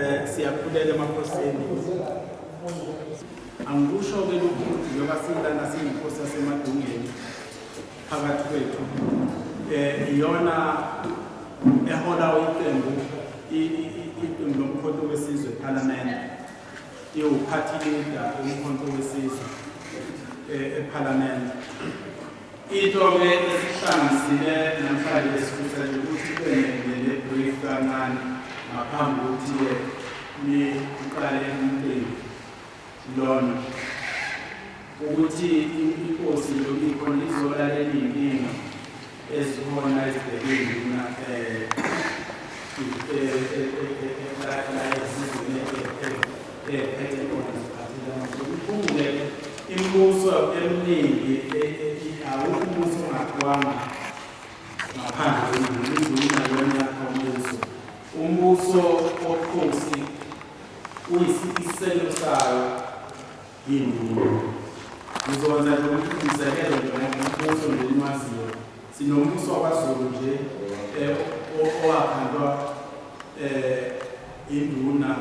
Eh siyakhuleka emakhosini. Angikusho ke lokhu njengoba silana siyinkosi yasemadungeni phakathi kwethu. Eh iyona ehola iqembu iqembu lomkhonto wesizwe eParliament. Iwuphathi leader umkhonto wesizwe eh eParliament. Into ke esihlangisile namhlanje esikhuthaza ukuthi kube ne-brief kancane ngaphambi kokuthi-ke niqale umcimbi lona ukuthi inkosi lobikho lizolalela iy'nkinga ezikhona ezibhekile mina um imibuso eminingi awukho umbuso ongakwanga ngaphandle kwezulwini lona umbuso umbuso okhosi uyisisekelo sayo yindulu ngizokwenza nje ukuthi ngizekele nje ngombuso nje nimaziyo Sinombuso wakwaZulu nje eh, owakhandwa eh, induna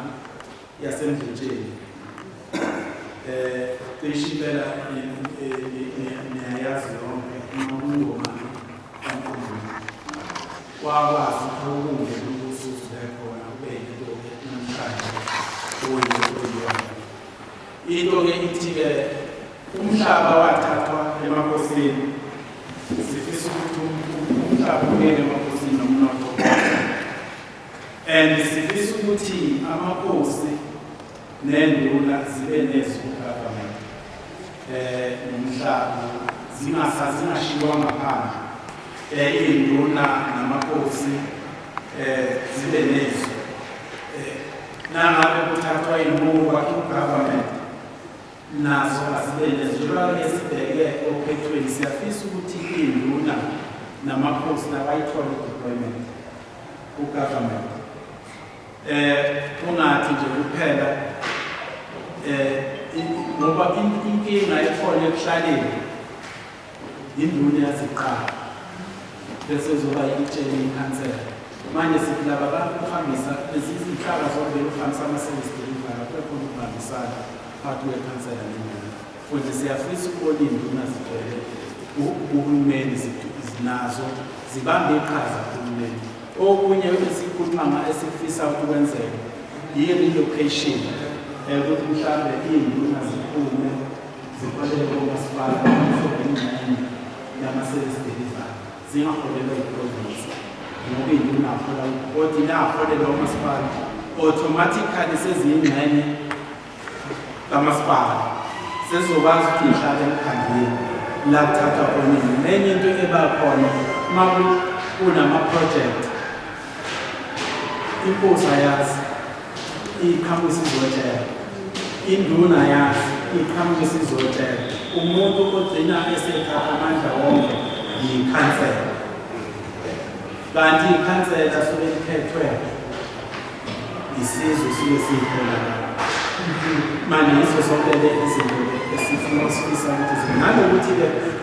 yasemdletsheni eh, cishe impela niyayazi yonke nokungomani kankulunkulu kwakwazi ukubunge ubusuzi bekhona ubeyinto namhlanje oyiyona into-ke ithi-ke Umhlaba wathathwa emakhosini. Sifisa ukuthi umhlaba ungene emakhosini nomnotho. And sifisa ukuthi amakhosi nenduna zibe nezwi government. Eh nomhlaba zingasazingashiywa ngaphandle. Eh induna namakhosi eh zibe nezwi. Eh nangabe kuthathwa imuva ku government nazo azibenezelwa ke sibheke ophethweni siyafisa ukuthi induna namakhosi nabayithole deployment kugovernment eh kungathi nje kuphela eh ngoba inkinga ekhona ekuhlaleni yinduna yaziqala bese uzoba yitshele ikhansela manje sithi laba bantu kuhambisa lezi zinhlaka zombili kuhambisa ama-service delivery kubekhona ukubambisana phakathi kwekhansela nenduna futhi siyafisa ukubona iy'nduna zigcwele uhulumeni zinazo zibambe iqhaza kuhulumeni okunye esikhuluma esifisa ukwenzeka yiyo i-location um ukuthi mhlawumbe iy'nduna ziphume Zifanele komasipala abamhlophe ingxenye yama-service delivery zingaholelwa yiprovinsi ngoba ingunahola kodwa inaholelwa umasipala automatically seziyingxenye kamasipala sezizokwazi ukuthi ihlale emkhandleni la kuthatha khona nenye into eba khona uma kunamaprojekthi inkosi ayazi iqhamuka isizotshela induna yazi iqhamuka isizotshela umuntu ogcina esethatha amandla wonke yikhansela kanti ikhansela suke liphethwe isizwe suke siyihlela manje yizo zonke le izinto esifuna sifisa ukuthi nanokuthi-ke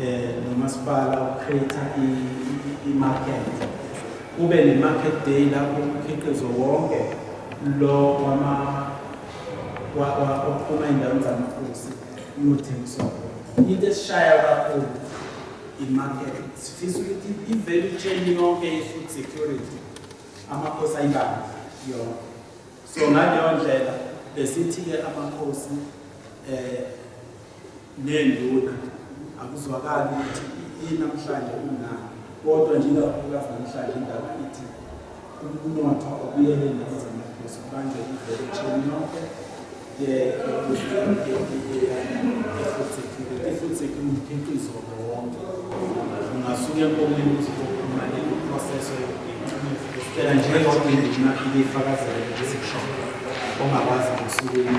um nomasipala ucreate i-market kube ne-market day lapho umkhiqizo wonke lo ophuma ey'ndaweni zamakhosi uyothengiswa into esishaya kakhulu i-market sifisa ukuthi i-value chain yonke ye-food security amakhosi ayibambe yonke so ngaleyo ndlela besithi-ke amakhosi um nenduna akuzwakali ukuthi yini namhlanje kunani kodwa njengakakhulukazi namhlanje indaba ithi umnotho obuyele nezamaphuzwa manje ivele echeni yonke i-food security umkhiqizo wonke ungasuke enkomeni ukuthi kokhuluma ne-process yokuphela njengoba indima ibifakazele ukuthi kusho ongakwazi ngosukwini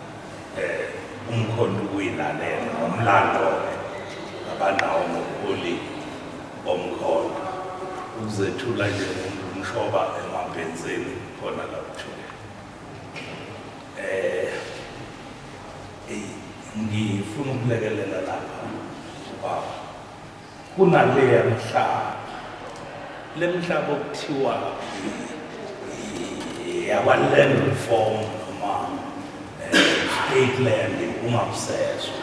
um umkhonto ukuyilalela ngomlando-ke abanawo ngobuholi bomkhonto ukuzethula nje umuntu umshoba emabhenzeni khona lakuthula um ngifuna ukulekelela lapha ubaba kunaleya mihlaba lemhlaba okuthiwa yakwa-land reform noma eh, state land ungamsezwa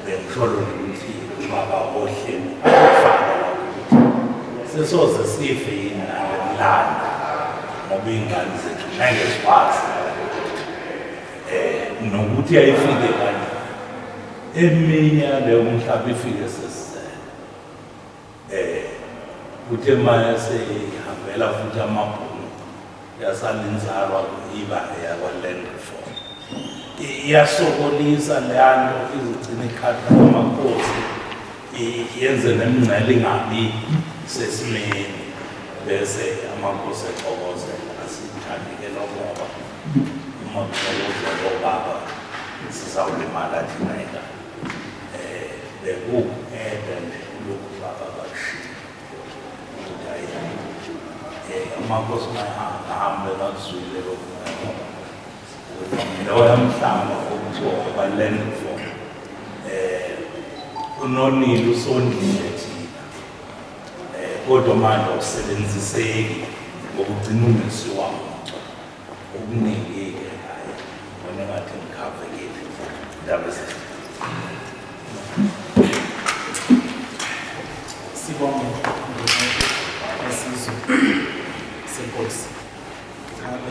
bengisholo nokuthi ubaba ohleni akufana ukuthi sesoze sife yini nalelanda ngoba iy'ngane zethu ngeke zikwazi um nokuthi yayifike kanje Eminye yaleyo mhlaba ifike sesizele. Eh kuthe manje seyihambela futhi amabhunu yasala inzalwa iba yakwaland reform. Iyasokolisa leyanto izigcina ikhadi lamakhosi yenze nemingcele ingabi sesimeni bese amakhosi exokozela asithandi ke lokho ngoba Uma kusolozwa lo baba sizawulimala thina ingane. Eh bekungede nje lokhu baba bakushilo. Ukuthi ayi. Eh uma Nkosi mayihamba hambe bakuzwile lokhu. Loya mhlamba okuthiwa ubaluleke mfo. Eh unonile usondile thina. kodwa manje awusebenziseki ngokugcina ungesi wami okuningi-ke hayi bona ngathi ngikhavekile ndaba zethu sibonge esizwe senkosi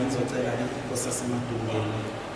ngizocela inkosi yasemadungeni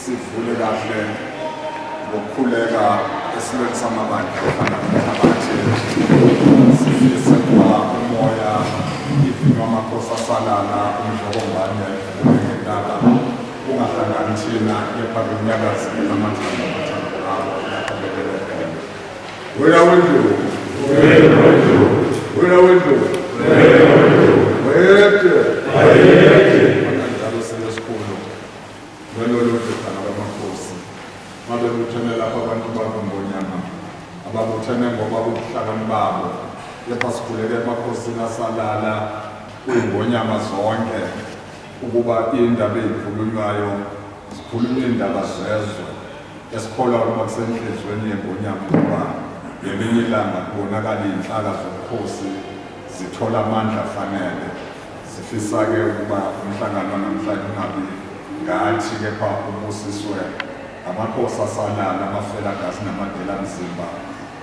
Sivule kahle ngokukhuleka esilweni samabandla ofana nomhlabathi sifise kuba umoya ivinwa amakhosi asalana umdlokombane unengentaka ungahlangani thina kepha kunyakazile amathambo amathambo abo nakabelelekele wena wendlu wena wendlu wayede Ngalolo dodana bamakhosi babebuthene lapho abantu bangongonyama ababuthene ngoba ubuhlakani babo kepha sikhuleke emakhosini asalala kuyingonyama zonke ukuba indaba eyikhulunywayo zikhulunywa iy'ndaba zezwe esikholwa ukuba kusenhliziyweni yengonyama ukuba ngelinye ilanga kubonakala iy'nhlaka zobukhosi zithola amandla afanele Sifisa-ke ukuba umhlangano wanamhlanje ungabi ngathi kepha ubusiswe amakhosi asalala, amafelagazi namadelamzimba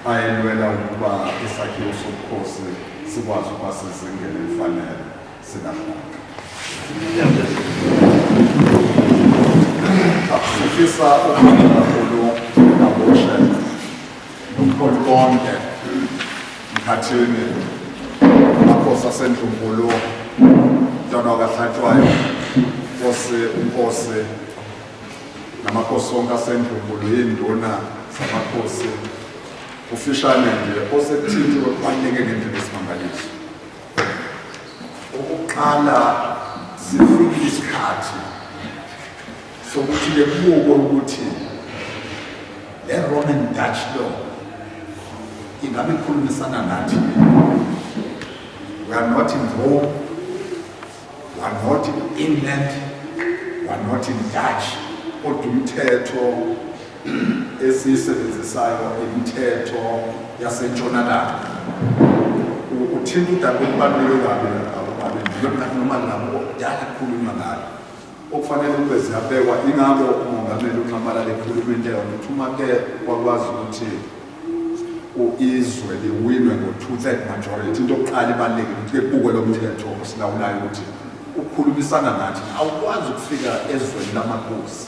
ayelwela ukuba isakhiwo sobukhosi sikwazi ukuba sezingeni elifanele sikahlanga. Sifisa ukubonga kakhulu Nomkhulu konke mkhathini amakhosi asendlunkulu mntwana wakahlatshwayo nkosi unkosi namakhosi onke asendlunkulu yinduna zamakhosi ufishane nje osekuthintiwe kubaluleke ngendlela esimangaliso ukuqala sifike isikhathi sokuthi-ke kubukwe ukuthi le roman dutch law ingabe ikhulumisana nathi we are not in rome we are not in england we are not in dutch kodwa umthetho esiyisebenzisayo imithetho yasentshonalanga uthinta udaba olubaluleke kabi noma nabo kudala kukhulunywa ngalo okufanele ukube ziyabekwa ingakho umongameli unxamalala ekhuluma into eyona ukuthi uma ke kwakwazi ukuthi izwe liwinwe ngo-two-third majority into yokuqala ibalulekile ukuthi ke kubukwe lo mthetho osilawulayo ukuthi ukhulumisana nathi awukwazi ukufika ezweni lamakosi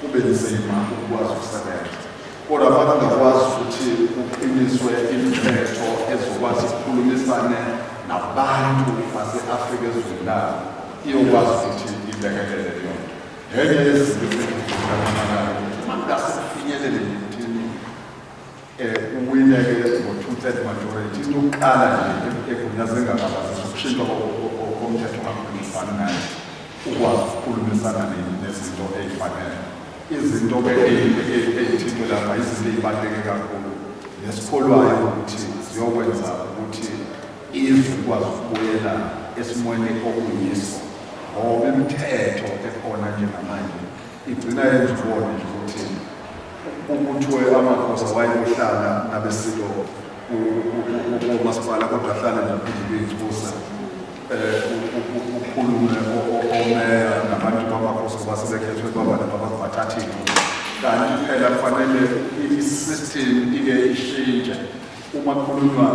kube nzima ukukwazi ukusebenza kodwa bakungakwazi ukuthi kuqiniswe imithetho ezokwazi ukukhulumisane nabantu base-afrika ezweni labo iyokwazi ukuthi ilekelele leyo nto ngenye yezinto eziaaayo ukuthi uma kungase kufinyelele emthini Uwine-ke ngo-two-third majority. Into yokuqala nje egunyaze engababazi ukushintshwa komthetho kakhulumisani naye ukwazi ukukhulumisana nezinto ey'fanele. Izinto ey'thintwe lapha izinto ey'baluleke kakhulu nesikholwayo ukuthi ziyokwenza ukuthi izwe likwazi ukubuyela esimweni okuyiso ngoba imithetho ekhona njengamanje Igcina yenza ubone nje ukuthi ubuthwe amakhosi awayeyohlala nabesilo umasipala kodwa ahlale naphinde beyibusa um ukhulume omeya nabantu bamakhosi ngoba sebekhethwe baba nabantu bathathile kanti phela kufanele i-system ike ishintshe uma kukhulunywa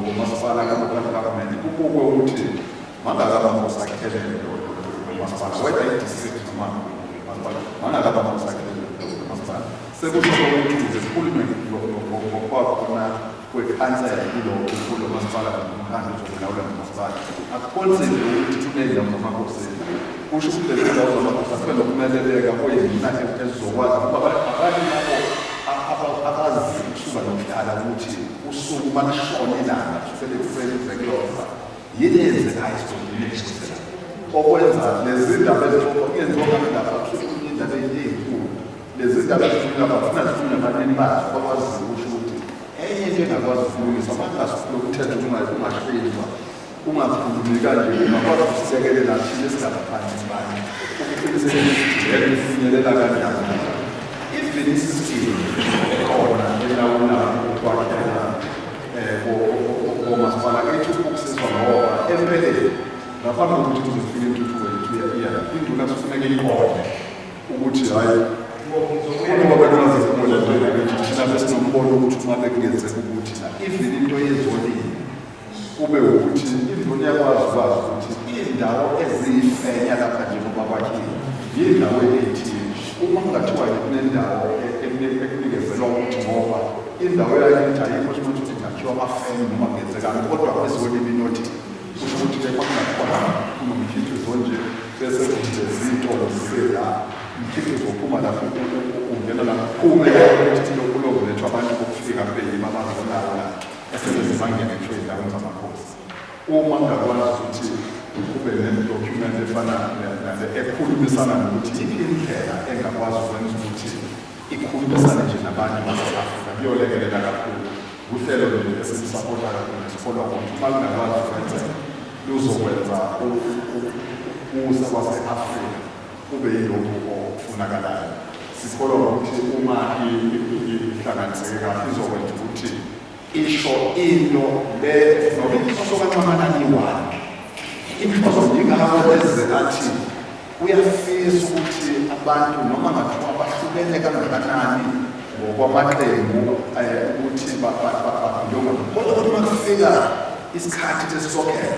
ngomasipala kamakhakamende kubukwe ukuthi Mangakaba ngosakhele umasipala whether i-district noma umasipala mangakaba ngosakhele umasipala sekusho ukuthi uhulumeni ngokuba khona kwekhansela kulowo kulo masipala nomkhandlu uzolawula nomasipala akukhonzile ukuthi thumele nomakhosi kusho ukuthi lezi ndawo zamakhosi asibe nokumeleleka kuyina ezizokwazi ukuba abanye labo abazi ukusuka nokudala ukuthi usuku uma lishona ilanga sebekusebenzekuyona Yini eyenzekayo esikhulumile ngishisela? Okwenza lezi ndaba ezixoxwa kungenziwa ngale ndaba kusuke kunye indaba eyinkulu. Lezi ndaba ezikhuluma bafuna zikhulume abanini bazo bakwazi ukusho ukuthi enye into engakwazi ukulungiswa bangasifuna ukuthetha ungahlelwa ungakhulumi kanje ungakwazi ukusilekelela thina esingabaphansi bani ukuqinisekisijele ukufinyelela kanjani even isistimu khona elawulayo ukwakhela komasipala ethu ukusizwa ngoba empeleni ngaphambi kokuthi kuze kufike intuthuko yethu iya induna kufuneka ibone ukuthi hhayi uma bekunazezimula njena bethi thina besinombono ukuthi uma bekungenzeka ukuthi na even into yezolile kube ukuthi induna iyakwazi ukwazi ukuthi iy'ndawo eziyifenya lapha njengoba kwakhiwe yiy'ndawo ey'thile uma kungathiwa kunendawo ekunikezelwa ukuthi ngoba Indawo yakithi ayikho ukuthi ukuthi ngakhiwa amafemu noma kungenzekani kodwa kwezweni ibinothi kusho ukuthi ke kwakungakhona kunomkhiqizo nje bese kunje zitolo zisela umkhiqizo ophuma lapho ungena lapho kume ukuthi lokulongolethwa abantu bokufika kube yima abazolawo la esebenzisa bangene ngisho ezindaweni zamakhosi uma ngakwazi ukuthi kube nedocument efana nale ekhulumisana nokuthi iyiphi indlela engakwazi ukwenza ukuthi Ukukhulumisana nje nabantu baseSouth Africa kuyolekelela kakhulu. Wuhlelo lolu esilusapota kakhulu nje kodwa ukuthi uma lungakwazi ukwenzeka luzokwenza ukusa kwase-Afrika kube yilokhu okufunakalayo. Sikholwa wukuthi uma ihlanganiseke kahle izokwenza ukuthi isho into le noma inhloso kaNxamalani wakhe inhloso ingakho eze athi uyafisa ukuthi abantu noma ngathiwa bahlukene kangakanani ngokwamaqembu eh, ukuthi babhulunga kodwa ukuthi uma kufika isikhathi sesisokhetho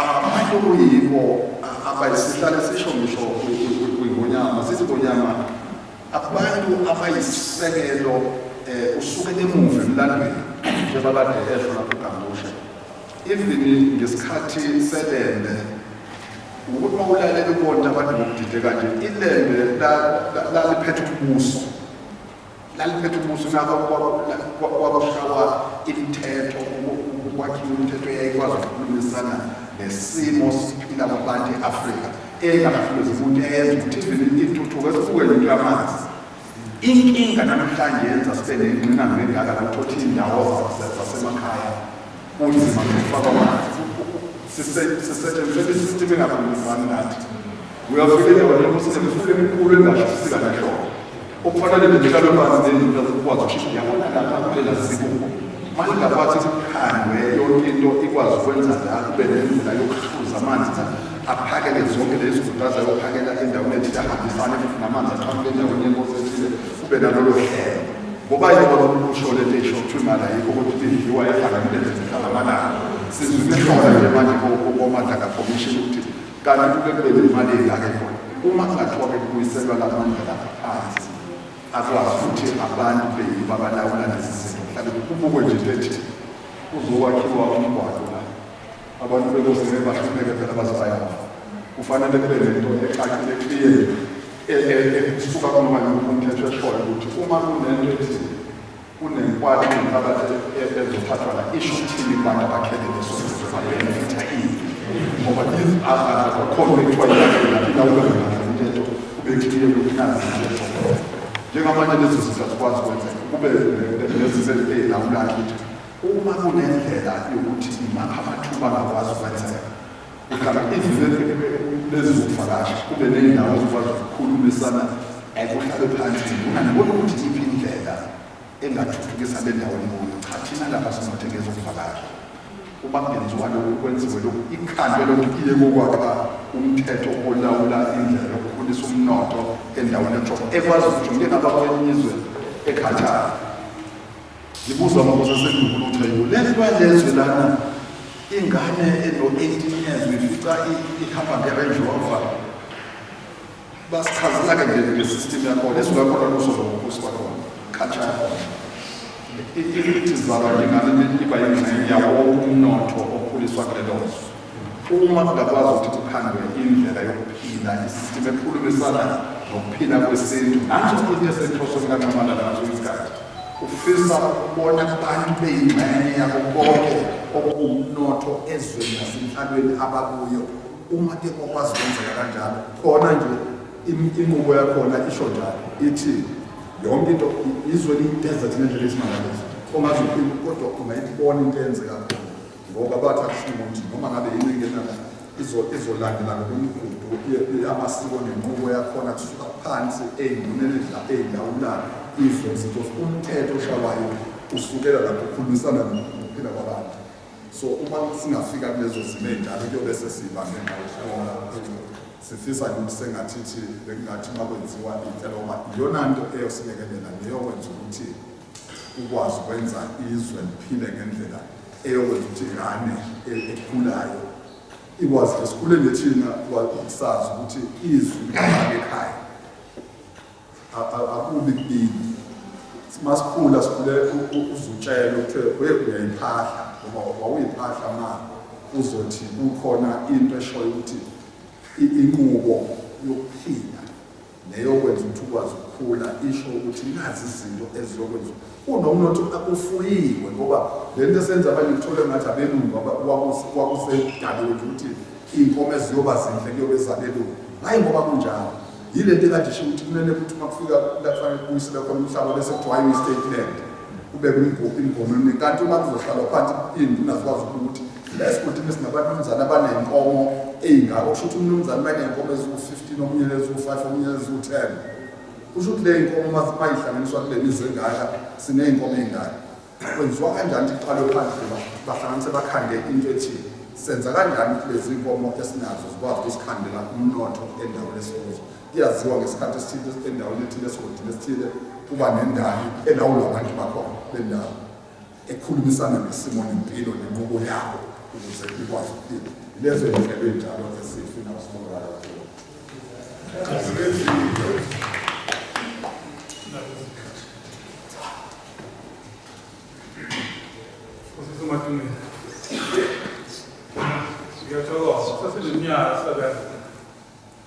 abantu kuyibo abayisihlale sisho ngisho kwingonyama sizingonyama abantu abayisisekelo um eh, usuke emuva emlandweni njengoba kade esho lapho ugambushela even ngesikhathi selembe ukuthi mawulale bebona abantu ngokudide kanje ilembe laliphethe ubuso laliphethe umuzi naka kwabashawa imithetho ukwakhiwa imithetho eyayikwazi ukukhulumisana nesimo siphila kwabantu e-afrika engafuluzi umuntu eyenza ukuthi ivele intuthuko esibukele into yamanzi inkinga namhlanje yenza sibe nengqinamba engaka la uthothi iy'ndawo zasemakhaya Kunzima ngifaka amanzi. Sisetshenziswe isistimu engakhulumisani nathi. Uyafika endaweni ukuthi semfule emikhulu engashuthi kanhloko. Okufanele ngihlale phansi nendlela zokwazi ukushintsha yabona lapha kulela sibuko. Manje ngaphathi kukhandwe yonke into ikwazi ukwenza njalo kube nendlela yokuhluza amanzi aphakele zonke lezi zinto azayophakela endaweni ethile ahambisane futhi namanzi aqhamuke endaweni yenkosi ethile kube nalolo hlelo. Ngoba yini baba ukusho lento esho ukuthi imali ayikho ukuthi idliwa ehlangene nezihlala amalanga. Sizwile khona nje manje kokomandla kakhomishini ukuthi kanti kube kube nemali engake khona. Uma kungathiwa bekubuyiselwa la mandla lapha phansi akwazi ukuthi abantu beyiba balawula lezi zinto. Mhlawumbe kubukwe nje into ethi kuzokwakhiwa umgwaqo Abantu bekuzele bahlupheke phela bazayafa. Kufanele kube nento ecacile clear ekusuka kunoma yimuphi umthetho eshoyo ukuthi uma kunento ethi kunenkwati nomphakathi ezothathwa la isho ukuthini kubantu abakhele leso benefitha ini ngoba akhona bekuthiwa yilaphinda ubengayo umthetho ube clear ukuthi nazi into njengamanje lezi zinto azikwazi kwenzeka kube nezinto ezilawulayo ukuthi Uma kunendlela yokuthi imaphakathi bangakwazi ukwenzeka, uhlala izizwe lezizokuvakasha kube nendawo ezikwazi ukukhulumisana ekuhlabe phansi mina ngibona ukuthi iphi indlela engathuthukisa le ndawo enikuyo cha thina lapha sinothe ngezokuvakasha uma kungenziwa lokhu kwenziwe lokhu ikhandwe lokhu iye kokwakha umthetho olawula indlela yokukhulisa umnotho endaweni ejo ekwazi ukuthi ngingaba kwenye izwe ekhathayo Ngibuzwa amakhosi aseNdukulutha yo le nto yalezwe lana ingane eno-eighteen years uyifica ihamba nge-range rover basichazela ke nje nge-system yakhona esingakhona kuso zokubusi bakhona khatshana ithi zalwa njengane iba yingxenye yawo wonke umnotho okhuliswa kule lonzo uma kungakwazi ukuthi kukhandwe indlela yokuphila i-system ekhulumisana nokuphila kwesintu nanso into esenhlosweni kanxamana nazo isikhathi Ufisa ukubona abantu beyingxenye yako konke okuwumnotho ezweni nasenhlalweni abakuyo. Uma ke kwakwazi kwenzeka kanjalo, khona nje inqubo yakhona isho njalo ithi yonke into izwe liyi-desert ngendlela esimangaliso ongaze uphinde kodwa ungayibona into eyenzeka khona. ngoba bathi akusho ukuthi noma ngabe yini engenana izolandela ngokwemigudu yamasiko nenqubo yakhona kusuka phansi ey'nduneni ey'lawulayo izwe zethu umthetho oshawayo usukela lapho ukhulumisana nokuphila kwabantu so uma singafika kulezo zimo ey'njalo kuyobe sesiba ngenxa yokuhlola sifisa ukuthi sengathithi bekungathi uma kwenziwa inhleloma iyona nto eyosilekelela neyokwenza ukuthi ukwazi ukwenza izwe liphile ngendlela eyokwenza ukuthi ingane ekhulayo ikwazi ke sikhule nje thina sazi ukuthi izwi likhona ekhaya akubi kini masikhula sikhule uzutshela ukuthi we uyayiphahla ngoba wawuyiphahla ma uzothi kukhona into eshoyo ukuthi inqubo yokuphila neyokwenza ukuthi ukwazi ukukhula isho ukuthi nazi izinto eziyokwenza kunomnotho akufuyiwe ngoba le nto esenza abanye kuthole ngathi abelungu kwakusedaliwe nje ukuthi iy'nkomo eziyoba zinhle kuyobe zabelungu hhayi ngoba kunjalo yile nto ekade isho ukuthi kumele ukuthi uma kufika kufanele kubuyisele khona umhlaba bese kuthiwa i-state land kube imgomo eminingi kanti uma kuzohlalwa phansi iy'nduna zikwazi ukuthi la esigodini sinabantu abamzana abanenkomo ey'ngako kusho ukuthi umnumzane uma eney'nkomo eziwu-fifteen omunye neziwu-five omunye neziwu-ten kusho ukuthi le y'nkomo mayihlanganiswa kule mizwe engaka siney'nkomo ey'ngaka kwenziwa kanjani ukuthi kuqalwe phandle bahlanganise bakhande into ethile senza kanjani ukuthi lezi nkomo esinazo zikwazi ukusikhandela umnotho endaweni esikuzo kuyaziwa ngesikhathi esithile endaweni ethile esigodini esithile kuba nendawo elawula abantu bakhona bendawo ekhulumisana ngesimo nempilo nenqubo yabo ukuze ikwazi ukuphila. Yilezo zinhlelo ezinjalo esifuna usimonakalo kuwo. Ngiyathokoza, saseminyaka sebenza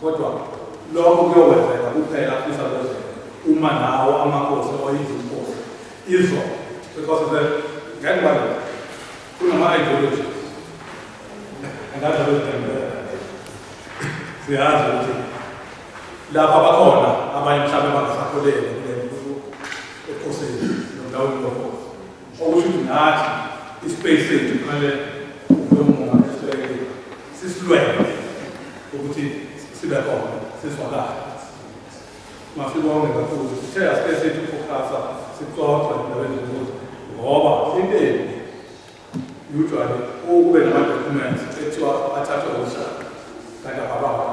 Kodwa lokho kuyokwenzeka kuphela afisa kwenzeka uma nawo amakhosi or izinkosi izo because the ngeke bani kunama ideology angazi abezitembela siyazi ukuthi lapha bakhona abanye mhlawumbe bangasakholele kule ekhosini nomlawuli lokho okusho ukuthi nathi ispace sethu kumele lomunga esibeke sisilwele ukuthi sibe khona sizwakale masibonge kakhulu sithe asike sethu focusa sixoxe endaweni zokuthi ngoba inteni usually ukube nama-documents ekuthiwa athathwe umhlaba kanti abababa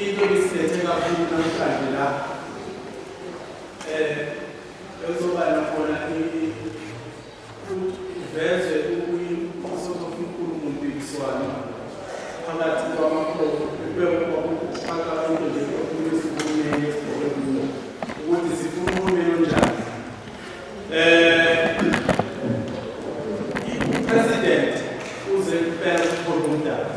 Into ebisilethe kakhulu namhlanje la eh ezoba nakhona iveze ukuyisoko inkulumo mpikiswano phakathi kwamakhono bekwakuqhaka into nje okuyisimumeni esikhona ukuthi sifuna uhulumeni onjani eh i-president uze kuphela ukukhona umdala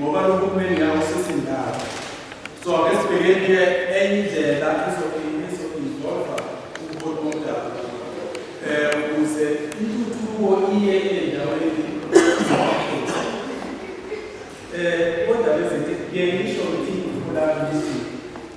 ngoba lo hulumeni ngeke usisi ndawo so ake sibheke-ke enye indlela izokuzova umholi womdabu um ukuze intuthuko iye endaweni um kodwa bezekuyeyisho ukuthi ikhulani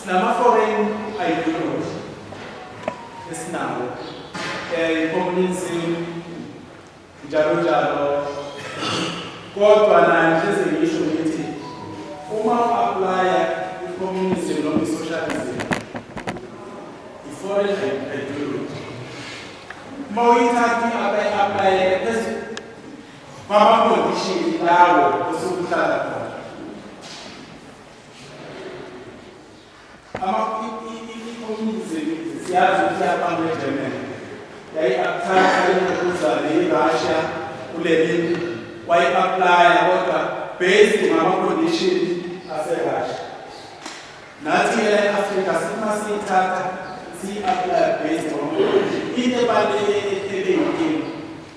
Sinama foreign ideology esinawo eh communism njalo njalo kodwa naye nje sengisho ngithi uma uapply i-communism noma i-socialism i-foreign ideology uma uyithatha i-apply phezu kwama-condition lawo osukuhlala khona siyazi ukuthi abantu eGermany yayi-apthatha imvukuzane i-Russia kuleli wayi-aplaya kodwa based ngama-condition ase-Russia nathi e-Afrika sima siyithatha siyi-aplaya based ngama-condition into ebale ebeyinkinga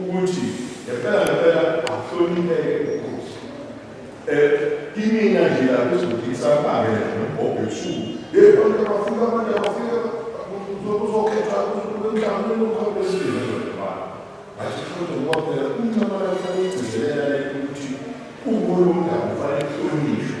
ukuthi ngempela ngempela ahlonipheke ukhosi eh, kimina nje lapho izodingisa abake nobhobho ebusuku hey abantu abafika abantu abafika uzokhethwa umhlanganweni omkhawulesile zodibana ngathi kodwa ngoba phela umncamalala kufanele ugcizelela ukuthi ubolomndaba ufanele uhlonishwe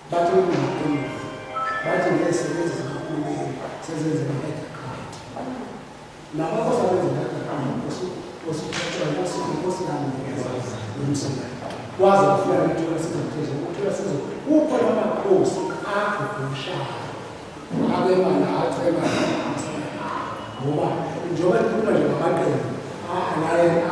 Bathi ukungakhuluma. Bathi ngeke sebenze zikahulumeni sezenze ngamehla qhathi. Laba basebenze ngakaqhathi osithathwa ngosiphi osilandela nomsebenzi. Waze wafika ukuthola sizophezulu ukuthola sizophezulu. Kukho lamakhosi akho kumshaya. Abe manje aceba ngoba njengoba ngikhuluma nje ngamaqembu angena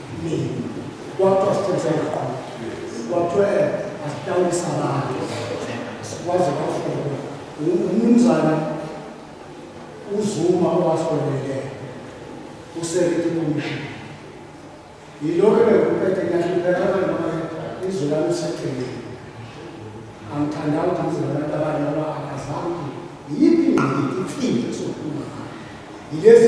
mina kwathiwa siqiniseka qo kwathiwa asitawulisa abantu kwaze kwafunwa umnumzana uzuma owasolele usekete komishini yilokho ebekuphethe ngiyahlupheka abantu abanye izwe lami useceleni angithandanga ukuthi ngizwe abantu abanye ngoba akazange yiphi ingqikithi ifiile sokhuluma yilezi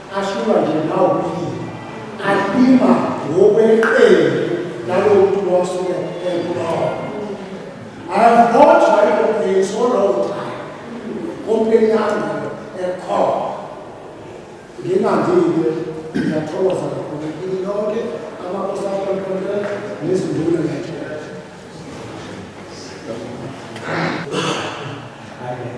Ashulwa nje nawo kuyiyo. Alima ngokweqele nalo muntu wasuke ebulawa. I have not tried to pay so long time. Kompeni yami ekhona. Ngingandile ngiyathokoza kakhulu kini lonke amakosi akhona nezinduna nje. Amen.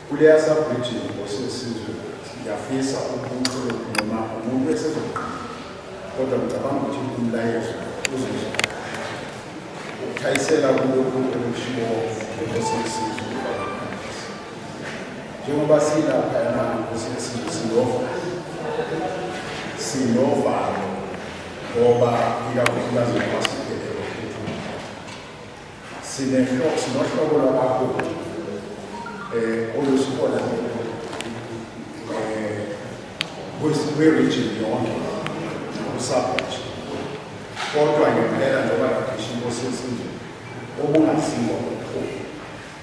Kuleya sabridging nkosi yesizwe ngiyafisa ubuchule noma umuntu esezoqala kodwa ngicabanga ukuthi umlayezo uzozwa ukuthayisela kulokhu okushiwo nkosi yesizwe njengoba silapha yona nkosi yesizwe sinova sinovalo ngoba ikakhulukazi ngoba Sinehlobo sinohlobo lwabaholi eh olusikhona eh kwi-region yonke usabathi kodwa ngempela njengoba ngisho inkosi yesintu okungaziwa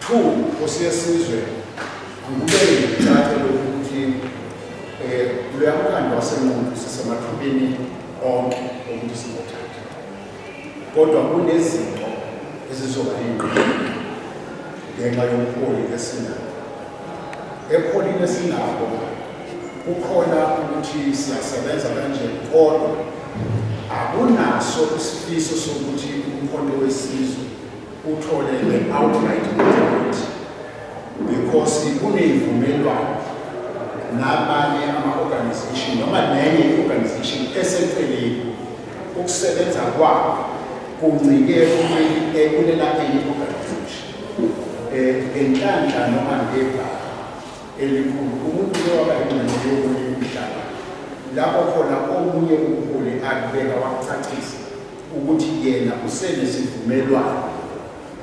Two, Nkosi yesizwe, angikubeke ngikucace lokhu ukuthi um loya mkhandlu wasenqundu sisemathubeni onke okuthi singothatha kodwa kunezinto ezizoba yingqondo ngenxa yobuholi esinabo ebuholini esinabo kukhona ukuthi siyasebenza kanje kodwa akunaso isifiso sokuthi umkhonto wesizwe uthole ne-outright agreement because kuney'vumelwano nabanye ama-organization noma nenye i-organization eseceleni ukusebenza kwabo kuncike kulela enye i-organization um eh, ngenhlanhla noma ngebha elikhulu umuntu lewaba ingxenye yokunye umhlaba lapho khona omunye umholi akubeka wakucacisa ukuthi yena usenesivumelwano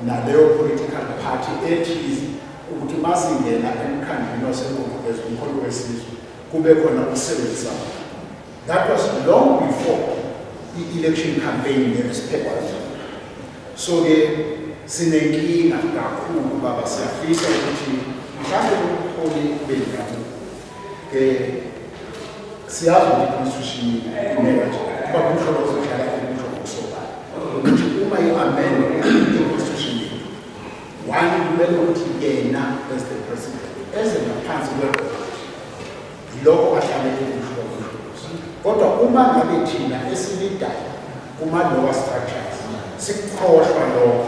naleyo political party ethize ukuthi masingena emkhandlwini wasenkokuveza umholi wesizwe kube khona ukusebenzisa that was long before i-election campaign nesiphekwa so-ke sinenkinga kakhulu baba siyafisa ukuthi mhlawumbe umholi bendabuko siyazi ukuthi i-constitution imele nje kuba kuhlobo zokudlala kuhlobo kusobala ukuthi uma i-amendwe i-constitution yethu one kumele ukuthi yena as the president eze ngaphansi kwebhola yilokho ahlale kuhlobo kodwa uma ngabe thina esilidayo kuma-lower structures sikukhohlwa lokho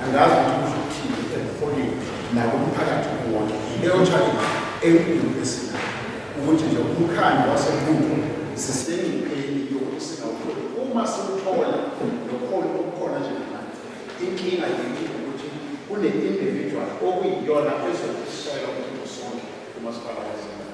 angazi ukuthi kuzothini emholini nakumphakathi kuwona leyo challenge enkulu esinayo ukuthi nje umkhandlu wasemuntu sisengcupheni yokuthi singawutholi uma siwuthola nokhona okukhona njengamanje inkinga yethu ukuthi kune-individual okuyiyona ezokusola ukuthi usonke umasipala wasemuntu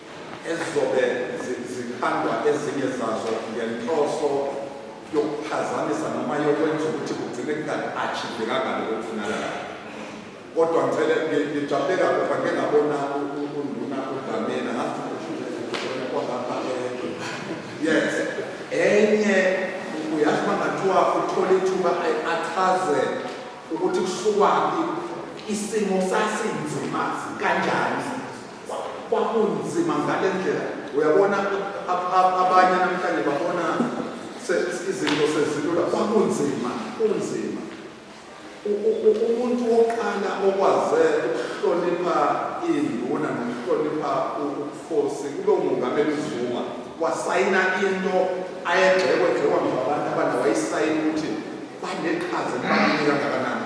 ezizobe zikhandwa ezinye zazo ngenhloso yokuphazamisa noma yokwenza ukuthi kugcine kunga-achivekanga lokho kufunakalayo kodwa ngicele ngijabule kakhulu ngake ngabona unduna udlamini ngazikwaapha yes enye uyazi uma ngathiwa uthole ithuba achaze ukuthi kusukwaphi isimo sasinzima kanjani kwakunzima ngale ndlela uyabona abanye namhlanje babona izinto sezilula kwakunzima kunzima umuntu wokuqala okwaze ukuhlonipha iy'nduna nokuhlonipha ubukhosi kube umongameli uzuma wasayina into ayegxekwe gxekwa ngabantu abana wayisayina ukuthi baneqhaza libaluleke kangakanani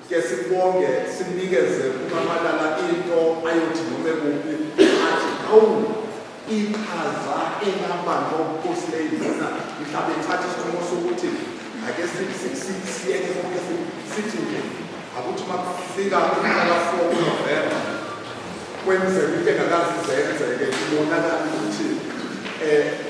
Ke sikubonge simnikeze umamalala into ayothi nome kuphi athi hawu iqhaza engihamba nobukhosi leyizina mhlawumbe ithatha isinqumo sokuthi ake siyeke konke sithi nje akuthi uma kufika umhlaka four kunovemba kwenzeka into engakazi zenzeke ibonakala ukuthi um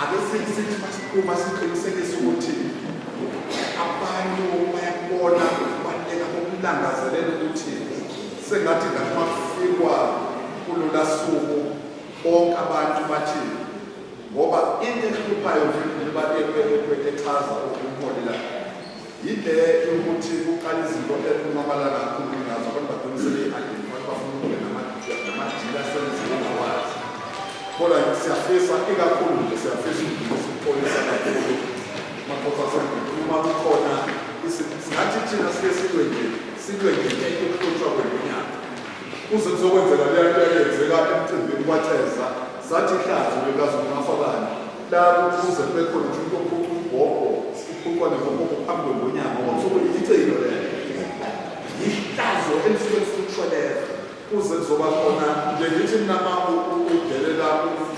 Ake sithi masiqhuba siqinisekise ukuthi abantu bayakubona ukubaluleka kokulangazelela ukuthi sengathi ngathi makufikwa kulula suku bonke abantu bathi ngoba into ehluphayo nje echaza ukumholela Yinhle ukuthi kuqala izinto ekunqabala kakhulu ngazo abantu bagcine sebeyi-identify bafuna ukube namadili asenziwe ngawazi kodwa siyafisa ikakhulu nje siyafisa ukudlulisa ukuxolisa kakhulu makhosi asengudu uma kukhona singathi thina sike silwe nje silwe ngenye ukuhlutshwa kwenyanga kuze kuzokwenzeka leya nto eyenzeka emcimbini kwatheza sathi ihlazo likazumafabani Labo kuze kube khona ukuthi umuntu ophuca umbhobho uphucwa nembobho phambi kwengonyama ngosuku yicilo lelo yihlazo elisuke lifuthwa lelo kuze kuzoba khona nje ngithi mina ma udelela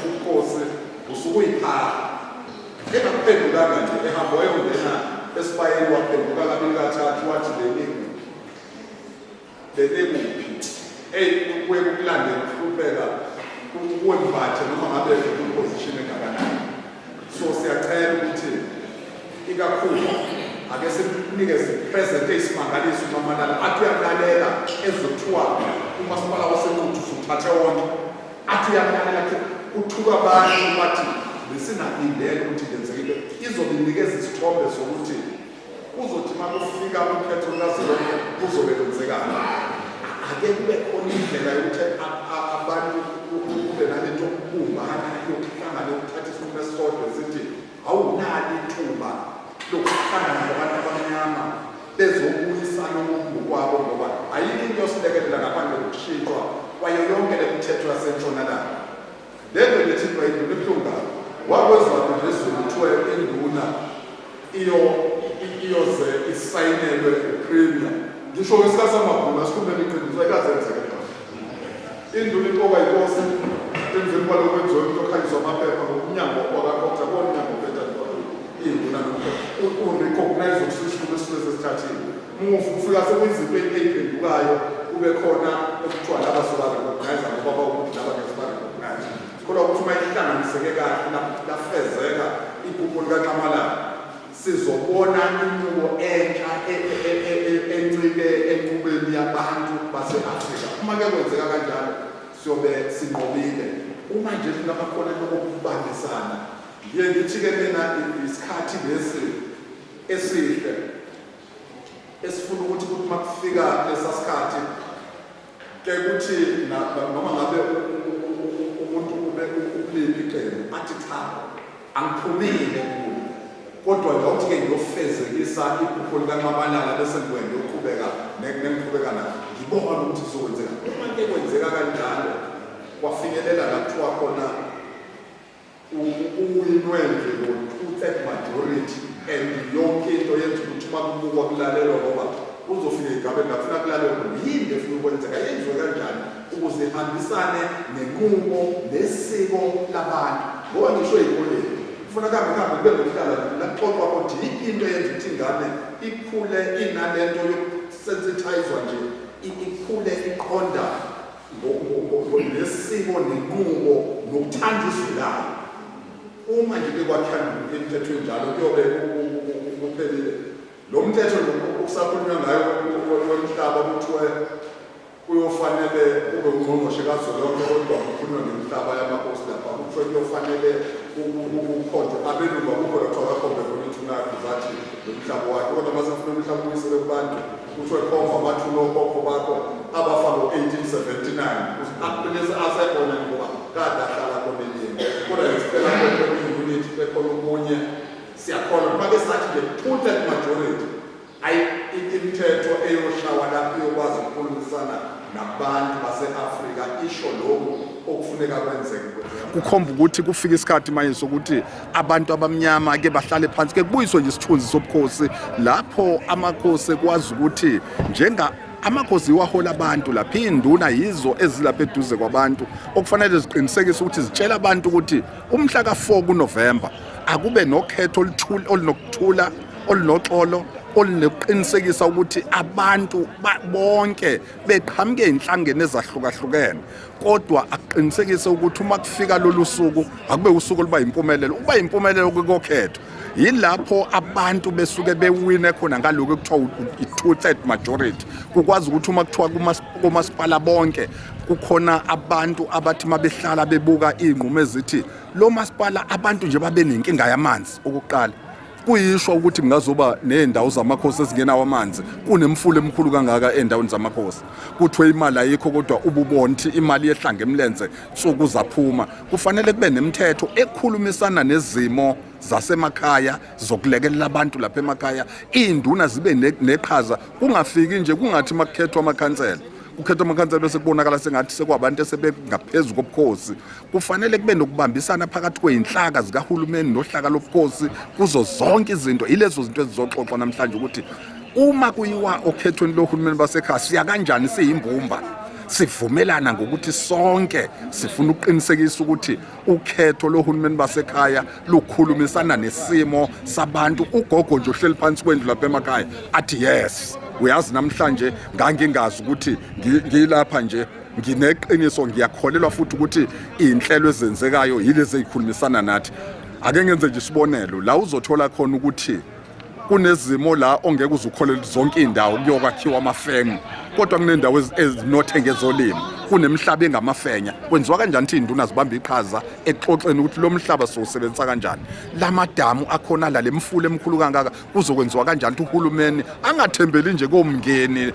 umkhosi usuke uyiphaha engaphendulanga nje ehamba wayongena esibayeni waphenduka kabili kathathu wathi leningi bebekuphi eyi kuye kukulande kuhlupheka kuwe mbathe noma ngabe kuposition engakanani so siyacela ukuthi ikakhulu ake simnikeze present eyisimangaliso umamalala athi uyamlalela ezothiwa umasipala wasenkuthu suthathe wonke athi uyamlalela athi uthuka abantu bathi besingalindele ukuthi lenzekile izobe inikeza isithombe sokuthi Kuzothi uma kufika ukhetho lukazwelonke kuzobe kwenzekani? Ake kube khona indlela yokuthi abantu kube nalento yokubumbana yokuhlangana yokuthatha isinqumo esisodwa esithi awunali ithuba lokuhlangana kwabantu abamnyama bezobuyisana umuntu kwabo ngoba ayikho into yosilekelela ngaphandle kokushintshwa kwayo yonke le mithetho yasentshonalanga Lento ngithi bayinduna ebuhlungu kabi. Wakwezwakhe nje ezweni kuthiwa induna iyo iyoze isayinelwe uPremier. Ngisho ngesikhathi samabhunu asikhulumele iqiniso ayikaze yenzeke lento. Induna iqokwa yinkosi emveni kwalokho kwenziwa umuntu okhanyiswa amaphepha ngomnyango wakakhoktha komnyango obhedadwa induna nomphepha. U-recognize ukusishuma esisuke sesithathile. Umufi ufika sekuyizipho eyiphendukayo kube khona okuthiwa laba sobarecognize ngoba bawukuthi laba ngeke sibarecognize sikholwa ukuthi uma ihlanganiseke kahle lafezeka iphupho likanxamalala sizobona inqubo entsha e, e, e, encike enqubeni yabantu base-afrika uma ke kwenzeka kanjalo siyobe sinqobile uma nje singabakhona lokokubambisana ngiye ngithi-ke mina isikhathi lesi esihle esifuna ukuthi ukuthi uma kufika lesa sikhathi ke kuthi noma ngabe umuntu ube ukuliphi iqembu athi cha angiphumile kulo kodwa ngawuthi-ke ngiyofezekisa iphupho likanxabalala bese ngikwende uqhubeka nengiqhubeka na ngibona ukuthi kuzokwenzeka uma ke kwenzeka kanjalo kwafinyelela la kuthiwa khona Uwinwendle lo two-third majority and yonke into yenza ukuthi uma kubukwa kulalelwa ngoba uzofika igabe ngafuna kulalelwa yini efuna ukwenzeka yenziwe kanjani ukuze ihambisane nenqubo nesiko labantu ngoba ngisho ezikoleni kufuneka ngihambe kube nokuhlala laxoxwa ukuthi yiphi into eyenza ukuthi ingane ikhule inalento yokusensithayizwa nje ikhule iqonda nesiko nenqubo nokuthanda izwi layo uma nje bekwakhandula emthethweni njalo kuyobe kuphelile lo mthetho okusakhulunywa ngayo womhlaba kuthiwe kuyofanele kube ungqongqoshe kazwelonke kodwa kukhulunywa ngemhlaba yamakhosi lapha kuthiwe kuyofanele ukukhonjwa abelungu akukho lokho akakhombe khona ithunakho zathi lo mhlaba wakhe kodwa masefuna umhlaba uyisele kubantu Kuthiwe khomfa amathulo okhokho bakho abafa ngo-1879 aqinise asekhona ngoba kade ahlala konelini kodwa ngisicela kwenyuniti bekhona okunye siyakholwa kuba ke sathi nje two-third majority ayi imithetho eyoshawa lapho iyokwazi ukukhulumisana nabantu base-afrika isho lokhu okufuneka kwenzeke kukhomba ukuthi kufika isikhathi manje sokuthi abantu abamnyama ke bahlale phansi ke kubuyiswe nje isithunzi sobukhosi lapho amakhosi ekwazi ukuthi njenga amakhosi iwahola abantu lapha iy'nduna yizo ezilapha eduze kwabantu okufanele ziqinisekise ukuthi zitshela abantu ukuthi umhla ka-4 kunovemba akube nokhetho olunokuthula olunoxolo olunokuqinisekisa ukuthi abantu bonke beqhamuke ey'nhlangeni ezahlukahlukene kodwa akuqinisekise ukuthi uma kufika lolu suku akube usuku oluba yimpumelelo uba yimpumelelo kokhetho yilapho abantu besuke bewine khona ngaloku kuthiwa i-two third majority kukwazi ukuthi uma kuthiwa komasipala bonke kukhona abantu abathi uma behlala bebuka iy'nqumo ezithi lo masipala abantu nje babe nenkinga yamanzi okuqala Kuyishwa ukuthi kungazoba nezindawo zamakhosi ezingenawo amanzi kunemfula emkhulu kangaka endaweni zamakhosi. Kuthiwe imali ayikho kodwa ububonthi imali yehlanga emlenze nsuku zaphuma. Kufanele kube nemithetho ekhulumisana nezimo zasemakhaya zokulekelela abantu lapha emakhaya. Iinduna zibe neqhaza kungafiki nje kungathi makukhethwa amakhansela. Kukhethwa amakhansela bese kubonakala sengathi sekwabantu esebengaphezulu kobukhosi. kufanele kube nokubambisana phakathi kweyinhlaka zikahulumeni nohlaka lobukhosi kuzo zonke izinto ilezo zinto ezizoxoxwa namhlanje ukuthi uma kuyiwa okhethweni lohulumeni basekhaya siya kanjani siyimbumba sivumelana ngokuthi sonke sifuna ukuqinisekisa ukuthi ukhetho lohulumeni basekhaya lukhulumisana nesimo sabantu ugogo nje ohleli phansi kwendlu lapha emakhaya athi yes uyazi namhlanje ngangingazi ukuthi ngilapha nje ngineqiniso ngiyakholelwa futhi ukuthi iy'nhlelo ezenzekayo yilezi ey'khulumisana nathi ake ngenze nje isibonelo la uzothola khona ukuthi kunezimo la ongeke uzukholele zonke indawo kuyokwakhiwa amafemu kodwa kunendawo ezinothe ngezolimo kunemihlaba engamafenya kwenziwa kanjani ukuthi induna zibambe iqhaza ekuxoxeni ukuthi lo mhlaba siwusebenzisa kanjani lamadamu akhona la lemfula emkhulu kangaka kuzokwenziwa kanjani ukuthi uhulumeni angathembeli nje komngeni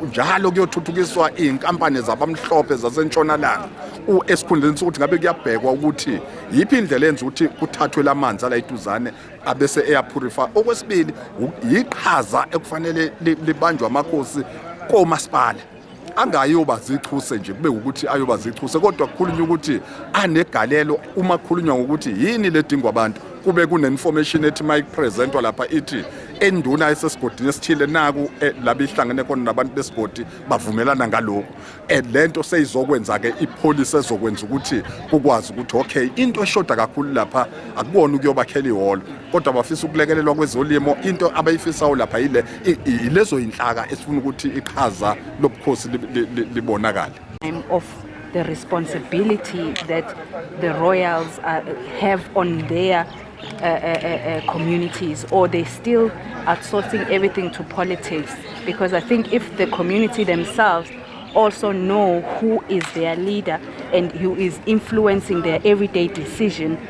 njalo kuyothuthukiswa iy'nkampani zabamhlophe zasentshonalanga esikhundleni sokuthi ngabe kuyabhekwa ukuthi yiphi indlela enza ukuthi kuthathwe la manzi ala iduzane abese eyaphurifa okwesibili yiqhaza ekufanele libanjwe amakhosi komasipala angayoba zichuse nje kube ukuthi ayoba zichuse kodwa kukhulunywa ukuthi anegalelo uma kukhulunywa ngokuthi yini ledingwa abantu kube kune-information ethi uma ipresentwa lapha ithi enduna esesigodini esithile naku eh, labe ihlangene khona nabantu besigodi bavumelana ngalokhu and eh, le nto seyizokwenza-ke ipholisi ezokwenza ukuthi kukwazi ukuthi okay into eshoda kakhulu lapha akubona ukuyobakhela ihholo kodwa bafisa ukulekelelwa kwezolimo into abayifisayo lapha yile ilezo inhlaka esifuna ukuthi iqhaza lobukhosi libonakale of the responsibility that the royals are, uh, have on their uh, uh, uh, uh, communities or they still outsourcing everything to politics because I think if the community themselves also know who is their leader and who is influencing their everyday decision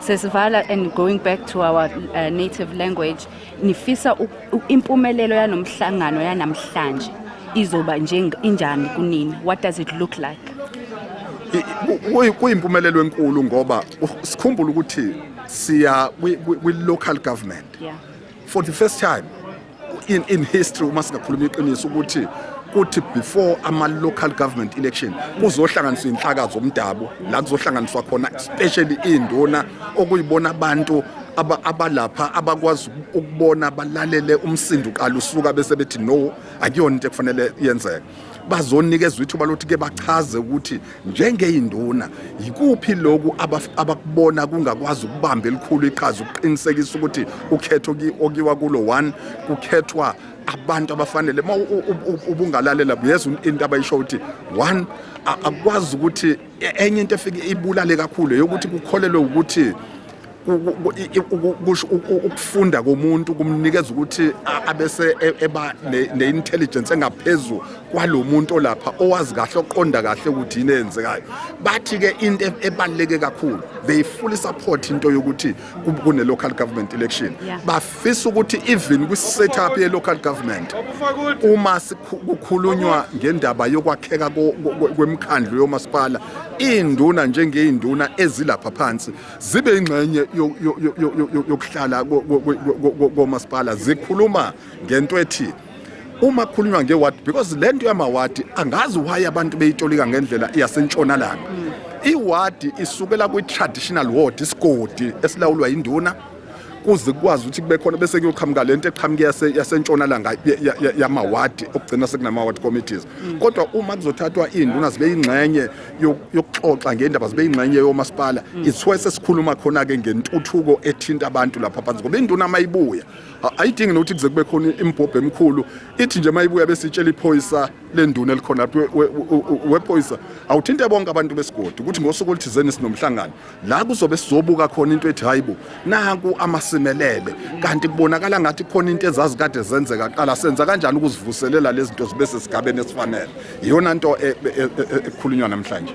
sesivala and going back to our uh, native language nifisa impumelelo yanomhlangano yanamhlanje izoba injani kunini what does it look like kuyimpumelelo enkulu ngoba sikhumbula ukuthi siya kwi-local government yeah. for the first time in, in history uma singakhuluma iqiniso ukuthi kuthi before ama-local government election kuzohlanganiswa inhlaka zomdabu la kuzohlanganiswa khona especially iy'nduna okuyibona abantu abalapha abakwazi ukubona balalele umsindo uqala usuka bese bethi no akuyona into ekufanele yenzeke bazonikezwa ithuba lokuthi ke bachaze ukuthi njengeyinduna yikuphi lokhu abakubona kungakwazi ukubamba elikhulu iqhaza ukuqinisekisa ukuthi ukhetho okiwa kulo one kukhethwa abantu abafanele uma ubungalalela yes into abayisho ukuthi one akwazi ukuthi e-, enye into efike ibulale kakhulu yokuthi kukholelwe ukuthi ukufunda komuntu kumnikeza ukuthi abese e, eba ne-intelligence engaphezulu kwalo muntu olapha owazi kahle oqonda kahle ukuthi yini eyenzekayo bathi-ke into e, ebaluleke kakhulu they fully support into yokuthi kune-local government election bafisa ukuthi even kwi-setup ye-local government uma kukhulunywa ngendaba yokwakheka kwemikhandlu yomasipala iy'nduna njengey'nduna ezilapha phansi zibe ingxenye yokuhlala komasipala zikhuluma ngento ethi uma kukhulunywa ngewadi because le nto yamawadi angazi why abantu beyitolika ngendlela yasentshonalanga mm. iwadi isukela kwi-traditional ward isigodi esilawulwa yinduna kuze kukwazi ukuthi kube khona bese kuyoqhamuka lento eqhamuke yasentshonalanga yamawadi okugcina sekunama-ward committees mm. kodwa uma kuzothathwa iy'nduna zibe yingxenye yokuxoxa ngendaba zibe ingxenye yomasipala mm. iswe sesikhuluma khona ke ngentuthuko ethinta abantu lapha phansi ngoba induna mayibuya ayidingi nokuthi kuze kube khona imbhobho emkhulu ithi nje mayibuya bese itshela iphoyisa lenduna elikhona wephoyisa awuthinte bonke abantu besigodi ukuthi ngosuku oluthizeni sinomhlangano la kuzobe sizobuka khona into ethi hayibo naku amasimelele kanti kubonakala ngathi khona into ezazi kade zenzeka qala senza kanjani ukuzivuselela lezi zinto zibe sesigabeni esifanele iyona nto e, e, e, ekhulunywa namhlanje